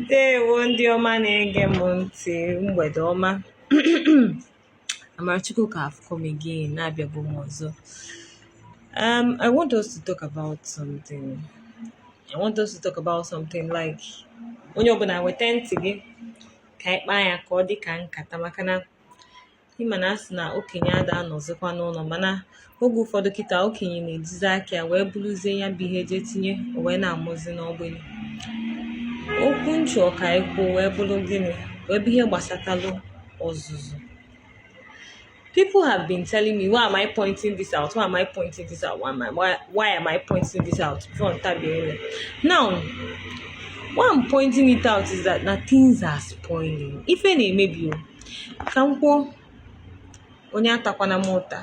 ndewo ndị ọma na-ege m ntị mgbede ọma Amarachukwuka have come again na abịago m ọzọ um, I want us to talk about something I want us to talk about something like onye ọbụla weta ntị gị ka anyị kpaa ya ka ọ dị ka nkata maka na ịma na asị na okenye ada anọzikwa n'ụlọ mana oge ụfọdụ kịta okenye na-ejizi aka ya wee buruzie ya bụ ihe je tinye wee na-amụzi n'ọgbịrị okwu m chọ ka e kwuo wee bụrụ gịnị wee bụ ihe gbasatalụ ọzụzụ people have been telling me why am I pointing this out why am I pointing this out why am I, why, why am I pointing this out before ntabiere now why I'm pointing it out is that na things are spoiling ife na-emebi o ka m kwuo onye atakwana m ụta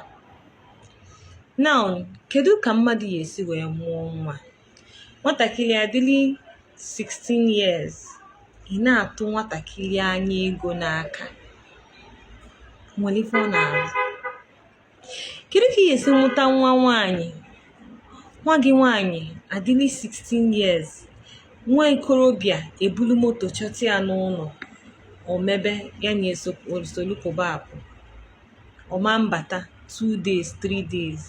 now kedu ka mmadụ ya-esi wee mụọ nwa nwatakịrị adịli 16 years ị na-atụ nwatakịrị anya ego n'aka nwere ife ọ na-arụ kedu ka ị ga-esi mụta nwa nwaanyị nwa gị nwaanyị adịli 16 years nwa okorobịa ebulu moto chọta ya n'ụlọ o mebe ya na esolu pụba apụ ọ ma mbata 2 days 3 days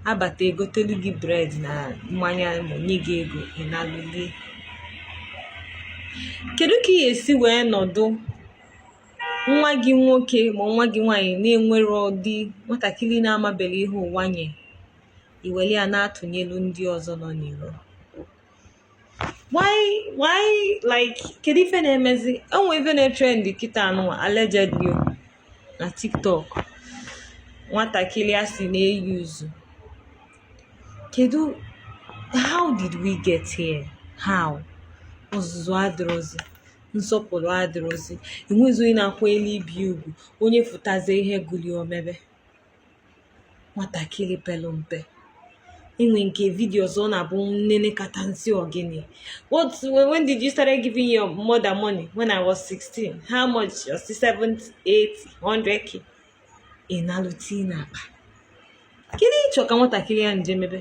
abata egotelu gị bread na mmanya ma nye gị ego ị nalụ lie kedu ka ị ga-esi wee nọdụ nwa gị nwoke ma nwa gị nwaanyị na-ewere ụdị nwatakịrị na-amaberọ ihe ụwa nye i were ya na-atụnyelu ndị ọzọ nọ n'iro why why like kedu ife na-emezi o nwe ife na-etrend kịta nwa allegedly na tiktok nwatakịrị a si na-eyi uzu kedu how did we get here how ọzụzụ adịrọzi nsọpụrụ adịrọzi enwezi onye na-akwanyere ibe ugwu onye fụtazi ihe gụlụ ya o mebe nwatakịrị pere mpe e nwere nke vidio ọzọ ọ na-abụ m nenekata m sị ọ gịnị what when did you start giving your mother money when i was 16 how much your 7 8 100k ị nalụ tii n'akpa kedu ị chọ ka nwatakịrị a je mebe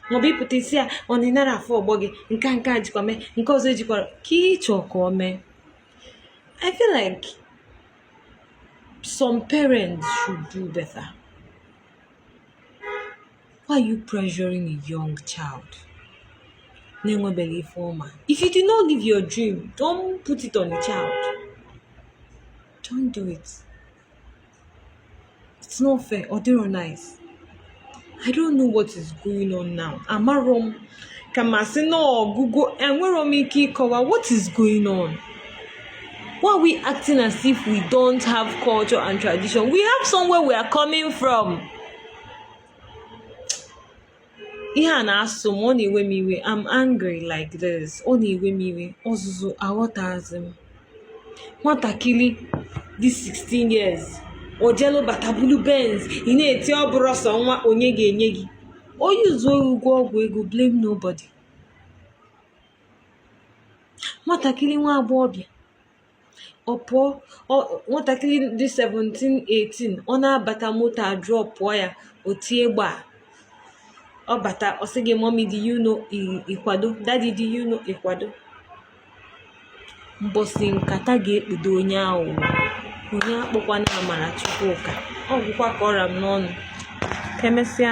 maọbụ ịpụta isi ya ọ na ịnara afọ ọgbọ gị nke nke a jikwa mee nke ọzọ ejikwara ka ịchọ ka ọ mee i feel like some parents should do better why are you pressuring a young child na-enwebeghị ife ọ ma if you do not live your dream don't put it on a child Don't do it. It's not fair. Ọ dịrọ nice. I don't know what is going on now. Amarọ m ka ma sị na ọgụgụ enwerọ m ike ịkọwa what is going on. Why are we acting as if we don't have culture and tradition? We have somewhere we are coming from. ihe a na-asụ m ọ na-ewe m iwe am angry like this ọ na-ewe m iwe ọzụzụ aghọtazi m nwatakịrị dị 16 years o jelu bata bulu benz ị na-eti ọ bụrụ ọsọ nwa onye ga-enye gị onye zuo ori gwọọ ọgwụ ego blame nobody nwatakịrị nwa agbọghọbịa ọ pụọ nwatakịrị dị 17 18 ọ na-abata moto adropụọ ya o tie gbaa ọ bata ọ sị gị mummy dị you know ị kwado daddy dị you know ị kwado mbọsị nkata ga-ekpudo onye aghụghọ onye akpọkwana Amara Chukwuka ọ gwụkwa ka ọ ra m n'ọnụ ka e mesịa